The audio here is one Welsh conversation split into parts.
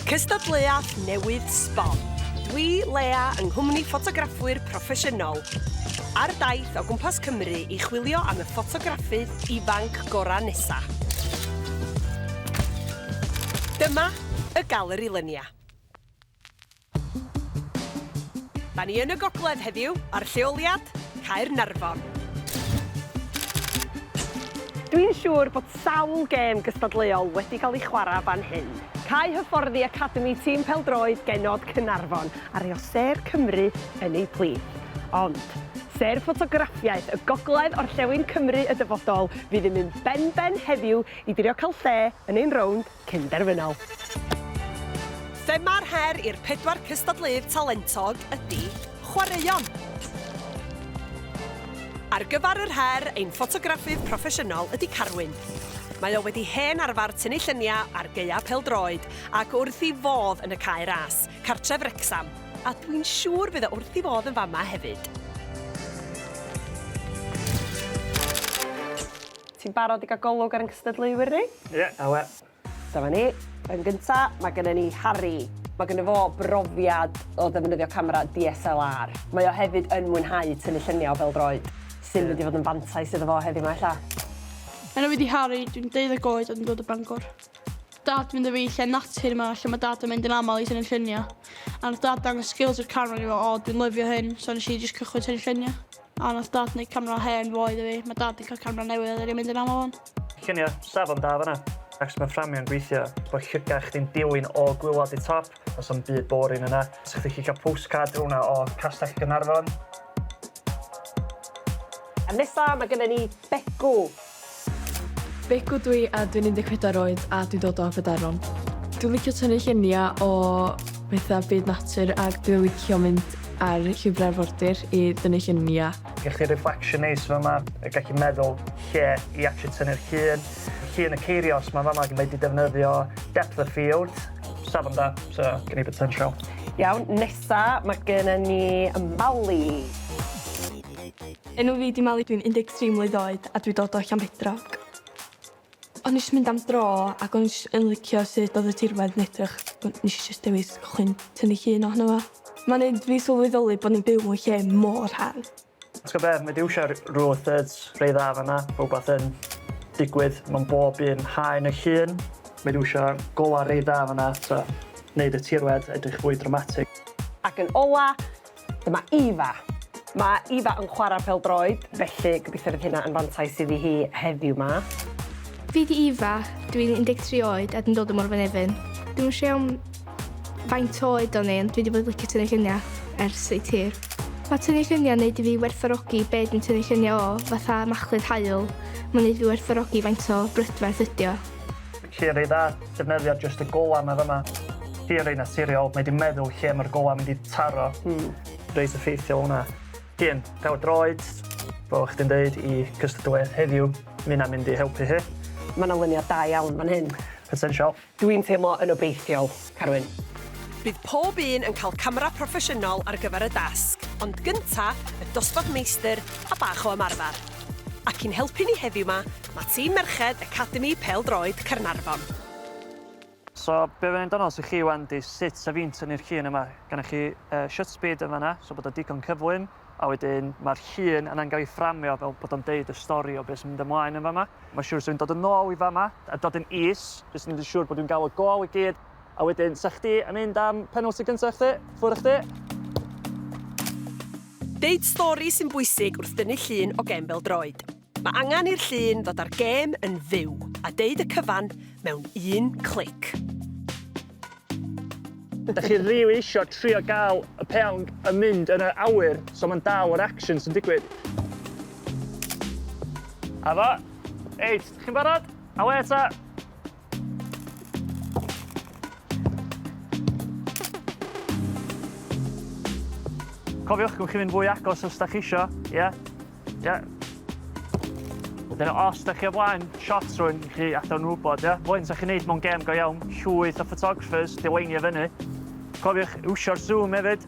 Cystadleuaeth newydd sbon. Dwi, Lea, yng nghwmni ffotograffwyr proffesiynol, ar daith o gwmpas Cymru i chwilio am y ffotograffydd ifanc gorau nesa. Dyma y Galeri Lynia. Da ni yn y gogledd heddiw ar lleoliad Caernarfon. Dwi'n siŵr bod sawl gêm gystadleuol wedi cael ei chwarae fan hyn. Cau hyfforddi academi tîm pêl-droed genod Caernarfon a rhoi o sêr Cymru yn eu plith. Ond, sêr ffotograffiaeth y gogledd orllewin Cymru y dyfodol fydd yn mynd ben-ben heddiw i drio cael lle yn ein rownd cyn derfynol. Thema'r her i'r pedwar cystadleuydd talentog ydy chwaraeon. Ar gyfer yr her, ein ffotograffydd proffesiynol ydy Carwyn. Mae o wedi hen arfer tynnu lluniau ar gaeau pêl-droed ac wrth ei fodd yn y Cae Ras, cartref Wrecsam, a dwi'n siŵr bydd o wrth ei fodd yn fama hefyd. Ti'n barod i gael golwg ar ein cystadleuwyr ni? Ie, awe. Dyma ni. Yn gynta, mae gennym ni Harri. Mae ganddo fo brofiad o ddefnyddio camera DSLR. Mae o hefyd yn mwynhau tynnu lluniau o bêl-droed, sy'n mynd i fod yn fantais iddo fo heddiw 'ma ella. Enw fi 'di Harri, dwi'n 12 oed a dwi'n dod o Bangor. Dad mynd â fi i lle natur 'ma lle mae Dad yn mynd yn aml i tynnu lluniau. A nath Dad dangos skills yr camera i fi, o dwi'n lyfio hyn, so nes i jyst cychwyn tynnu lluniau. A nath dad neud camera hen ddoe iddo fi. Ma' dad 'di ca'l camera newydd a 'dan ni'n mynd yn amal ŵan. Llunio safon da fan'na. Ac ma fframio'n gweithio. Bod llygad chdi'n dilyn o gwilod i top. Does na'm byd boring yna. Sa chdi gallu cael postcard fel 'na o Castell Gaernarfon. Nesa ma gynna ni Begw. Begw dw i a dwi'n 14 oed a dwi'n dod o Aberaeron. Dwi'n licio tynnu lluniau o pethau byd natur ac dwi'n licio mynd ar llwybrau arfordir i dynnu lluniau. Gen chi reflection neis fama, gen chi meddwl lle i actually tynnu'r llun. Llun y ceirios 'ma fama mae 'di defnyddio depth of field. Safon da, so gen i potential. Iawn, nesa mae genna ni y Mali. Enw fi 'di Mali dwi'n 13 mlwydd oed a dwi dod o Llanbedrog. O'n i jys mynd am dro ac o'n i jys yn licio sud odd y tirwedd yn edrych so nesh i jys dewis cychwyn tynnu llun ohono fo. Ma'n neud fi sylweddoli bo' ni'n byw mewn lle mor hardd. T'go' be' ma' Dew isio rule of thirds rei dda fan 'na, ma' wbath yn digwydd mewn bob un haen y llun. Ma' Dew isio gola rei dda fan 'na t'o' neud y tirwedd edrych fwy dramatic. Ac yn ola, Dyma Eva. Mae Eva yn chwarae pêl-droed, felly gobeithio fydd hynna yn fantais iddi hi heddiw 'ma. Fi 'di Eva, dw i'n 13 oed a dwi'n dod o Morfa Nefyn. Dwi'm yn siŵr iawn faint oed o'n i ond dwi 'di bod yn licio tynnu lluniau ers reit hir. Mae tynnu lluniau'n neud i fi werthfawrogi be' dwi'n tynnu lluniau o, fatha machlud haul. Mae'n neud fi werthfawrogi faint o brydferth ydi o. Lle'r eidda, defnyddia jyst y gola ma fama. Hi rei naturiol, mae di meddwl lle ma'r gola mynd i taro. Hmm. Reit effeithiol hwnna. Dien, pêl droed, fel o'ch chdi'n deud, i cystadleuaeth heddiw, mae hynna'n mynd i helpu hi. Mae yna luniau da iawn fan hyn. Potensial. Dwi'n teimlo yn obeithiol. Carwyn. Bydd pob un yn cael camera proffesiynol ar gyfer y dasg, ond gynta, y dosbarth meistr a bach o ymarfer. Ac i'n helpu ni heddiw 'ma, mae tîm merched Academi Pêl-droed Caernarfon. So be fydd yn dynol sy chi wan di sut sa fi'n tynnu'r llun yma, gynnoch chi shut speed yn fanna so bod o digon cyflym, A wedyn mae'r llun yna'n gael ei fframio fel bod o'n deud y stori o beth sy'n mynd ymlaen yn fama. Mae'n siŵr sy'n dod yn ôl i fama a dod yn is, jyst yn mynd siŵr bod dwi'n gael y gol i gyd. A wedyn, sa chdi yn mynd am penalty gyntaf chdi? Ffwr a chdi. Deud stori sy'n bwysig wrth dynnu llun o gem bel-droed. Mae angen i'r llun ddod â'r gêm yn fyw a deud y cyfan mewn un clic. Dach chi rili isio trio gael y peawn yn mynd yn yr awyr, so mae'n dal yr action sy'n digwydd. A fo. Reit, chi'n barod? Awê ta! Cofiwch, gwn chi fynd fwy agos os da chi isio, ie? Yeah? Ie. Yeah. Dyna os da chi o flaen shots rwy'n chi adawn nhw wybod, ie? Yeah? Fwy'n sa chi'n neud mewn gem go iawn, llwyth o photographers, dileinio fyny. Cofiwch, iwsio'r zoom hefyd.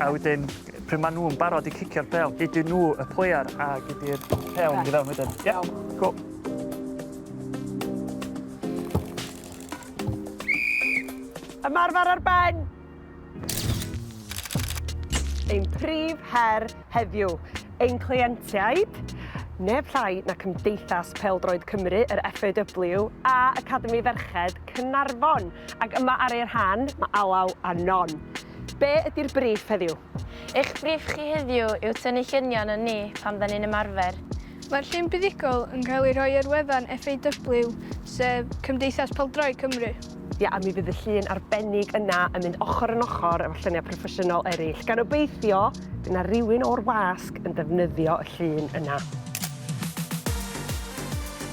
A wedyn pryd maen nhw'n barod i cicio'r pêl, gei di nhw y player a gei di'r pêl yn mynd i fewn wedyn. Ie? Iawn. Go. Ymarfer ar ben! Ein prif her heddiw, ein cleientiaid, neb llai na Cymdeithas Pêl-droed Cymru, yr FAW, a Academi Ferched Caernarfon. Ac yma ar eu rhan, mae Alaw a Non. Be ydi'r briff heddiw? Eich briff chi heddiw yw tynnu llunion o ni pan fyddan ni'n ymarfer. Mae'r llun buddugol yn cael ei rhoi ar wefan FAW, sef Cymdeithas Pêl-droed Cymru. Ie, a mi fydd y llun arbennig yna yn mynd ochr yn ochr efo lluniau proffesiynol eraill, gan obeithio bydd 'na rywun o'r wasg yn defnyddio y llun yna.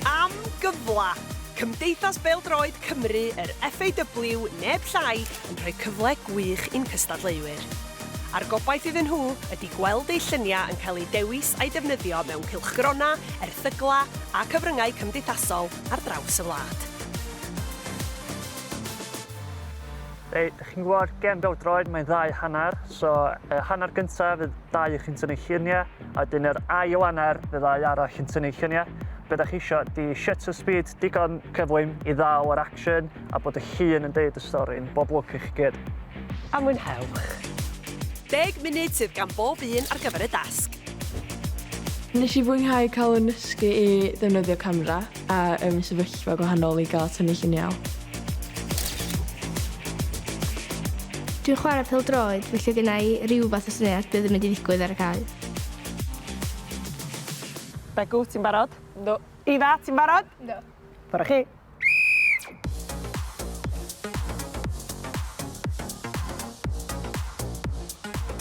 Am gyfla! Cymdeithas Bêl-droed Cymru, yr FAW, neb llai yn rhoi cyfle gwych i'n cystadleuwyr. A'r gobaith iddyn nhw ydy gweld eu lluniau yn cael eu dewis a'u defnyddio mewn cylchgronau, erthyglau a cyfryngau cymdeithasol ar draws y wlad. Reit, dych chi'n gwybod, gêm bêl-droed, mae'n ddau hanner, so y hanner gyntaf fydd dau chi'n tynnu lluniau, a wedyn yr ail hanner fydd ddau arall yn tynnu lluniau. Be da chi eisiau, di shutter speed digon cyflym i ddal yr action, a bod y llun yn deud y stori. Bob lwc i chi gyd. A mwynhewch. Deg munud sydd gan bob un ar gyfer y dasg. Nes i fwynhau cael yn nysgu i ddefnyddio camera a um, sefyllfa gwahanol i gael tynnu lluniau. Dwi'n chwarae pel droed, felly gyda i rhyw fath o syniad beth yn mynd i ddigwydd ar y cael. Begw, ti'n barod? No. Ifa, ti'n barod? No. Ffordd â chi.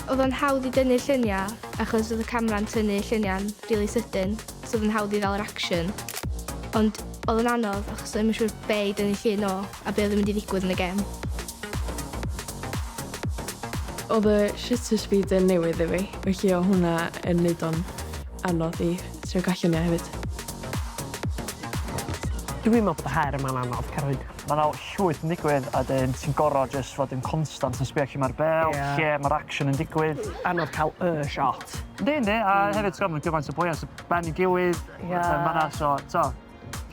Oedd o'n hawdd i dynnu lluniau achos oedd y camera'n tynnu lluniau'n really sydyn, so oedd o'n hawdd i ddal yr action. Ond oedd o'n anodd achos oedd yn siŵr be i dynnu llun o a be oedd yn mynd i ddigwydd yn y gem. Oedd y shutter speed yn newydd i fi, felly o hwnna yn neud o'n anodd i Ti'n rhoi gwell lluniau hefyd. Dw i'n meddwl bod y her yma'n anodd, Carwyn. Mae 'na llwyth yn digwydd a wedyn ti'n gorfod jyst fod yn constant yn sbio lle mae'r bêl... Ie. ...lle mae'r action yn digwydd. Anodd cael y shot. Yndi, yndi, a hefyd timod mae gymaint o bwy ar dy ben ei gilydd... Ie. ...a pethau fel 'na so timod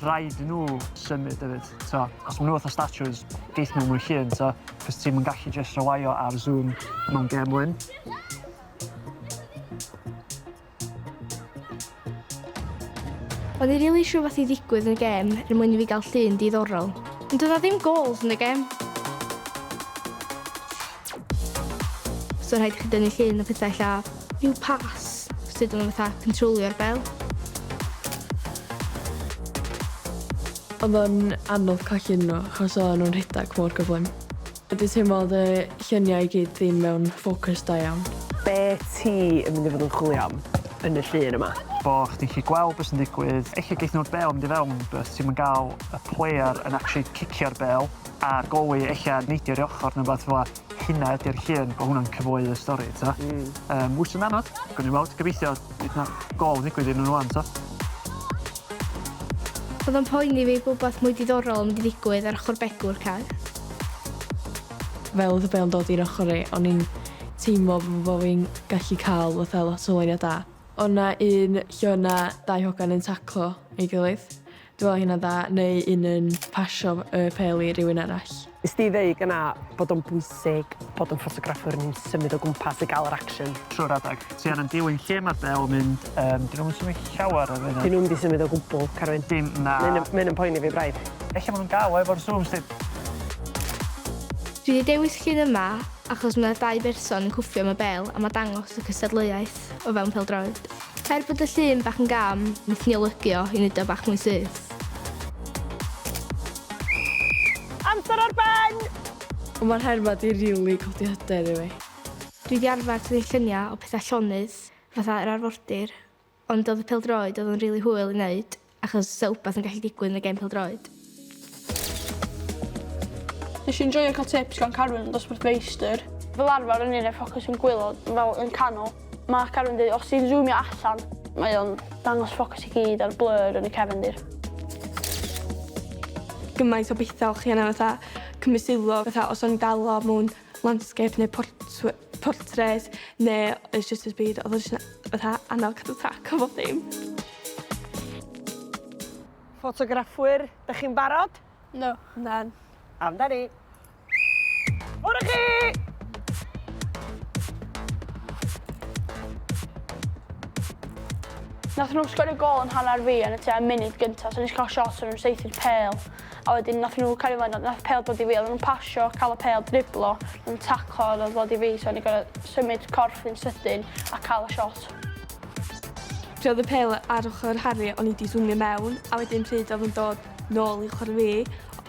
rhaid i nhw symud hefyd timod. Os maen nhw fatha statues geith nhw mwy llun timod achos ti'm yn gallu jyst rely ar zoom mewn gêm wyn. O'n i rili isio rhywbeth i ddigwydd yn y gêm er mwyn i fi gael llun diddorol. Ond doedd 'na ddim gols yn y gêm. So rhaid i chi dynnu llun a pethau ella rhyw pas sut o'n nhw fatha cyntrolio'r bel. Oedd o'n anodd colli nhw achos oedden nhw'n rhedeg mor gyflym. Dwi teimlo fod y lluniau i gyd ddim mewn ffocws da iawn. Be ti yn mynd i fod yn chwilio am yn y llun yma? Bo chdi'n gallu gweld be sy'n digwydd. Ella geith nhw'r bêl mynd i fewn but ti'm yn gael y player yn actually cicio'r bêl a'r goalie ella yn neidio oddi ochr neu rywbeth fela. Hynna ydi'r llun, bo hwnna'n cyfoe y stori t'o'? Hmm. Yym wsd yn anodd. Gawn ni weld, gobeithio fydd 'na gôl yn ddigwydd iddyn nhw ŵan t'o'? Odd o'n poeni fi bo wbath mwy diddorol yn mynd i ddigwydd ar ochor begw'r car. Fel oedd y bêl yn dod i'r ochr i, o'n i'n teimlo fel bo' fi'n gallu ca'l fatha lot o ŵynion da. O' 'na un lle o' 'na dau hogan yn taclo ei gilydd. Dwi me'wl o' hynna'n dda, neu un yn pasio y pêl i rywun arall. Nes di ddeud gynna' bod o'n bwysig bod yn ffotograffwr yn symud o gwmpas i ga'l yr action trw'r adag. Ti ar yn diwyn lle ma'r bel mynd? Yym, dyn nhw'm yn symud llawer o fenyn. Dyn nhw'm di symud o gwbwl, Carwyn. Dim, na. Mae hyn, mae hyn yn poeni fi braidd. Ella ma' nhw'n dal o efo'r zoom stick. Dwi 'di dewis llun yma achos ma' 'na dau berson yn cwffio am y bel a ma' dangos y cystadleuaeth o fewn pêl-droed. Er bod y llun bach yn gam, nethon ni olygu o i neud o bach mwy syth. Amser ar ben! Ond ma'r her 'ma 'di rili codi hyder i fi. Dwi 'di arfer tynnu lluniau o pethau llonydd, fatha yr arfordir, ond oedd y pêl-droed oedd o'n rili hwyl i wneud, achos 'sa wbath yn gallu digwydd yn y gêm pêl-droed. Nes i enjoio cael tips gan Carwyn, dosbarth feistr. Fel arfer o'n i'n rhoi ffocws yn gwaelod, fel yn canol. Mae Carwyn deud os ti'n zoomio allan, mae o'n dangos ffocws i gyd a'r blur yn y cefndir. Gymaint o bethau o'ch chi angen fatha cymryd sylw, fatha os o'n i'n dal o mewn landscape neu portw- portread neu it's just his byd. Oedd o jyst yn fatha annog heart attack o bob dim. Ffotograffwyr, dych chi'n barod? No. Na. Amdani. Mwr i chi! Nath nhw sgorio gol yn hanner fi yn y tua munud gynta, so nes cael shots o'n nhw'n saethu'r pêl. A wedyn nath nhw cario mlaen a nath pêl dod i fi odden nhw'n pasio ca'l y pêl driblo yn taclo a nath ddod i fi so o'n i gor'o' symud corff fi'n sydyn a ca'l y shot. Pryd odd y pêl ar ochor Harri o'n i 'di swmio mewn a wedyn pryd odd o'n dod nôl i ochor fi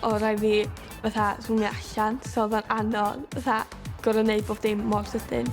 o' rai' fi fatha swmio allan so odd o'n anodd fatha gor'o' neud bob dim mor sydyn.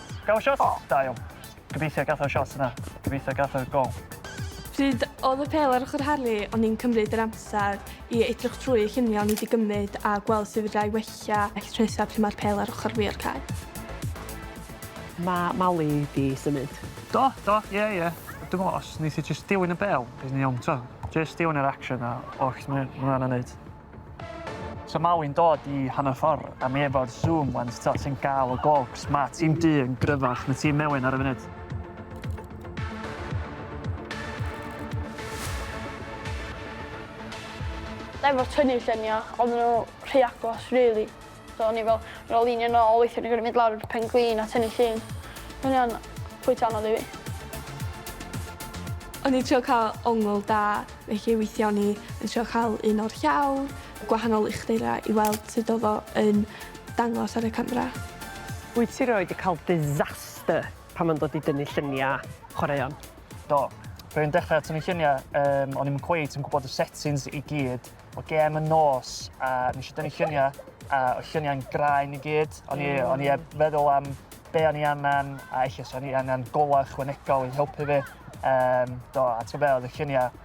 Gath shot? O, da iawn. Gobeithio gath o'r shot yna. Gobeithio gath o'r gol. Pryd oedd y pêl ar ochr Harry o'n i'n cymryd yr amser i edrych trwy y lluniau o'n i 'di gymryd a gweld sut fedra i wella llysau pryd mae'r pêl ar ochr fi o'r cae. Mae Mali 'di symud. Do, do, ie, ie. Dwi'n meddwl os neith hi jyst dilyn y bêl, bydd yn iawn, t'o'? Jyst dilyn yr action a oll ma' ma' 'na neud. So mae wy'n dod i hanner ffordd a mi efo'r zoom wan so ti'n gael y gogs. Mae tîm du yn gryfach na tîm mewen ar y funud. Efo tynnu lluniau, oedden nhw rhy agos, really. So o'n i fel, ar ôl lunio nôl weithio o'n i'n gor'o' mynd lawr i'r pen-glin a tynnu llun. O'n i arno. Reit anodd i fi. O'n i'n trio ca'l ongl da felly weithia' o'n i yn trio ca'l un o'r llawr, gwahanol uchdura i weld sud odd o yn dangos ar y camera. Wyt ti rioed 'di ca'l disaster pan ma'n dod i dynnu llunia' chwaraeon? Do. Pryd o'n i'n dechra tynnu llunia' yym o'n i'm yn cweit yn gwbod y settings i gyd o gêm y nos a nes i dynnu lluniau a oedd lluniau'n graen i gyd. O'n i, mm. on i heb feddwl am be o'n i angen a eich o'n i angen golau chwanegol i helpu fi. Um, do, a ti'n fel, y lluniau,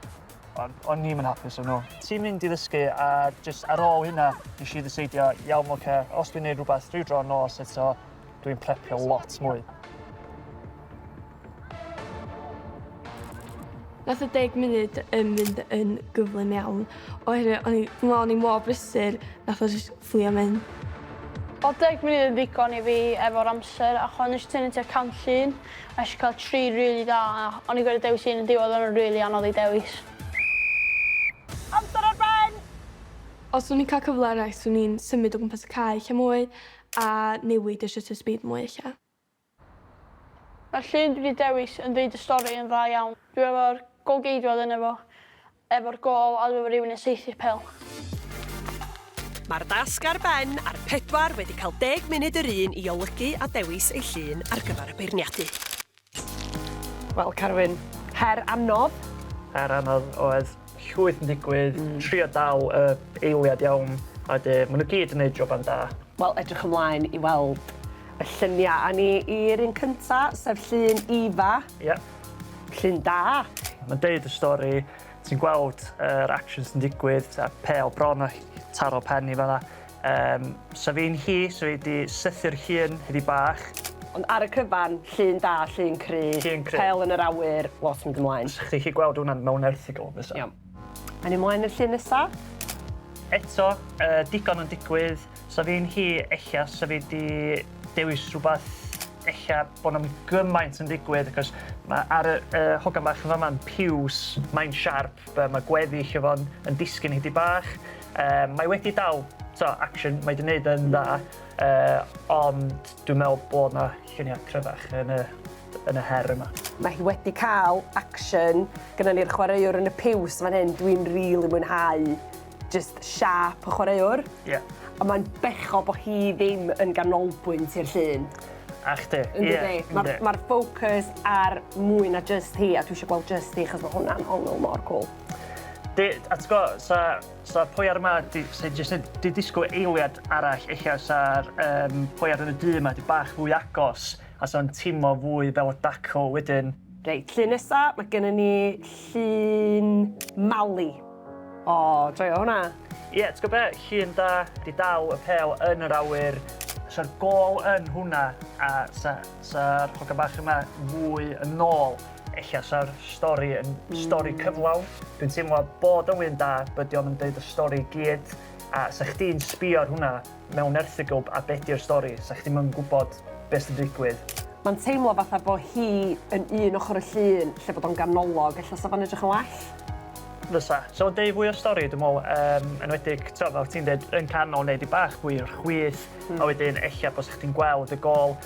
o'n i'n mynd hapus o'n nhw. Ti'n mynd i ddysgu a just ar ôl hynna, nes i ddyseidio, iawn, oce, okay, os dwi'n neud rhywbeth rhyw dro nos eto, dwi'n prepio lot mwy. Nath y deg munud yn mynd yn gyflym iawn, oherwydd o'n i, dwi'n meddwl o'n i mor brysur, nath o jyst fflio mynd. Oedd deg munud yn ddigon i fi efo'r amser, ac o'n i jyst tynnu tua cant llun, a nes i cael tri rili da, a o'n i'n gorfod dewis un yn diwedd, o'n nhw'n rili anodd i dewis. Amser ar ben! Os o'n i'n cael cyfle arall, swn i'n symud o gwmpas y cae lle mwy, a newid y shutter speed mwy ella. Mae'r llun dwi 'di dewis yn deud y stori yn dda iawn. Dwi efo'r gol-geidwad yno fo, efo'r gol a dwi efo rywun yn saethu'r pêl. Mae'r dasg ar ben a'r pedwar wedi cael deg munud yr un i olygu a dewis eu llun ar gyfer y beirniadu. Wel Carwyn, her anodd. Her anodd oedd. llwyth yn digwydd, trio dal y eiliad iawn a de ma' nw gyd yn neud joban da. Wel edrych ymlaen i weld y llunia a ni i'r un cynta sef llun Eva. Ia. Llun da. Ma'n deud y stori ti'n gweld yr actions yn digwydd t'od pêl bron a taro pen i fan 'na. Yym, so fi'n hi, so fi 'di sythu'r llun hyd i bach. Ond ar y cyfan, llun da, llun cry. Llun cry. Pel yn yr awyr, lot yn mynd ymlaen. Os chi chi gweld hwnna mewn erthygl fysa. Iawn. Awn ni mlaen i'r llun nesa. Eto, yy, digon yn digwydd. So fi'n hi, ella, so fi 'di dewis rhywbeth, ella, bod na'm gymaint yn digwydd, achos ma' ar y y hogan bach yn fama'n piws, mae'n siarp, yy ma' gweddill o fo'n yn disgyn hyd i bach. Yy mae wedi dal t'o' action mae 'di neud yn dda yy ond dwi'n me'wl bod 'na llunia' cryfach yn y yn y her yma. Mae hi wedi cael action, gynnon ni'r chwaraewr yn y piws fan hyn, dwi'n rili mwynhau jyst siâp y chwaraewr. Ie. Ond mae'n bechod bod hi ddim yn ganolbwynt i'r llun. A chdi. Ie. Yndydi? Ma'r ma'r focus ar mwy na jyst hi a dwi isio gweld jyst hi achos ma' hwnna'n ongl mor cwl. Di, a ti'n gwybod, sa, sa pwy ar yma di, sy jyst yn di disgwyl eiliad arall eich sa'r um, pwy ar yn y du yma di bach fwy agos a sa'n tîmo fwy fel y daco wedyn. Reit, llun nesa, mae gennym ni llun Mali. O, oh, joio hwnna. Ie, yeah, ti'n gwybod be, llun da, di dal y pel yn yr awyr. Sa'r gol yn hwnna a sa'r sa, sa hogan bach yma fwy yn ôl. Ella sa'r stori yn stori cyflawn. Dwi'n teimlo bod o'n un da, but dio'm yn deud y stori i gyd. A 'sa chdi'n sbio ar hwnna mewn erthygl, a be' di'r stori? 'Sa chdi'm yn gwbod be' sy'n digwydd. Ma'n teimlo fatha bo' hi yn un ochor y llun lle bod o'n ganolog. Ella 'sa fo'n edrych yn well. Fysa. 'Sa fo'n deud fwy o'r stori dwi me'wl, yym enwedig t'o' fel ti'n deud yn canol neu 'dig bach fwy o'r chwith. A wedyn ella bysa chdi'n gweld y gôl.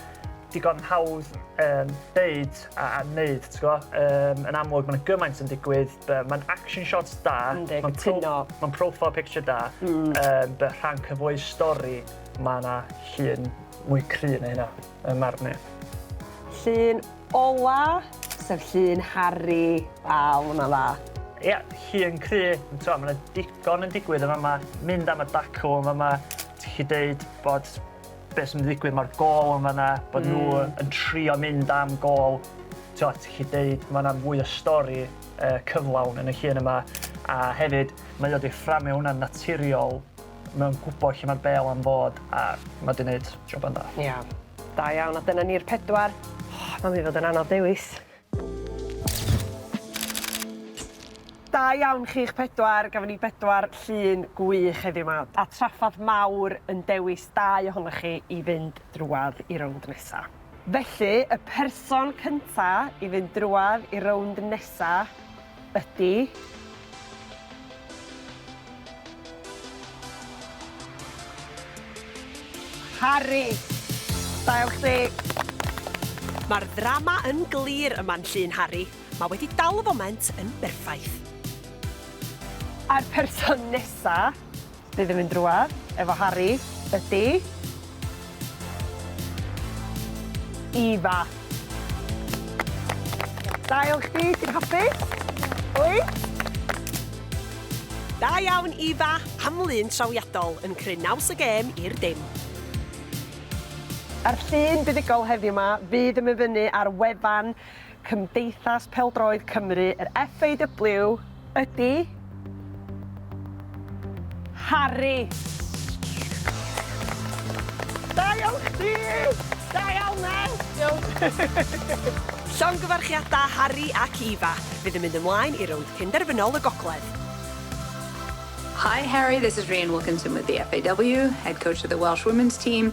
Digon hawdd yym deud a a neud t'go? Yym yn amlwg ma' 'na gymaint yn digwydd by- ma'n action shots da. Yndi cytuno. Ma'n pro- ma'n profile picture da. Hmm. Yym by- rhan cyfoes stori ma' 'na llun mwy cry na hynna yn marn i. Llun ola sef llun Harri a wnna'n dda. Ia llun cry on' t'mo' ma' 'na digon yn digwydd yn fama. Mynd am y dacw yn fama ti 'llu deud bod Be sy'n mynd i ddigwydd, mae'r gôl yn fan'na, bod nhw yn trio mynd am gôl. Tibod, ti'n gallu deud, mae yna fwy o stori cyflawn yn y llun yma, a hefyd, mae o 'di fframio hwnna'n naturiol, mae'n gwybod lle mae'r bêl am fod, a mae 'di wneud joban da. Ia, da iawn, a dyna ni'r pedwar. O, mae'n mynd i fod yn anodd dewis. Da iawn chi'ch pedwar, gafon ni bedwar llun gwych heddiw 'ma, a traffarth mawr yn dewis dau ohonoch chi i fynd drwadd i rownd nesa. Felly, y person cynta i fynd drwadd i rownd nesa ydy. Harri! Dail chdi! Mae'r ddrama yn glir yma'n llun Harri. Mae wedi dal y foment yn berffaith. A'r person nesa? Bydd yn mynd drwadd efo Harri ydi Eva. Da iawn chdi, ti'n hapus? Wyt? Da iawn Eva, am lun trawiadol yn cryn naws y gêm i'r dim. A'r llun buddugol heddiw 'ma fydd yn myfynnu ar wefan Cymdeithas Pêl-droed Cymru, yr FAW, ydi Harri! Da iawn chdi! Da iawn Ned! Diolch! Llongyfarchiadau Harri ac Eva! Fydd yn mynd ymlaen i rownd penderfynol y gogledd. Hi Harri, this is Rhian Wilkinson with the FAW, Head Coach of the Welsh Women's Team.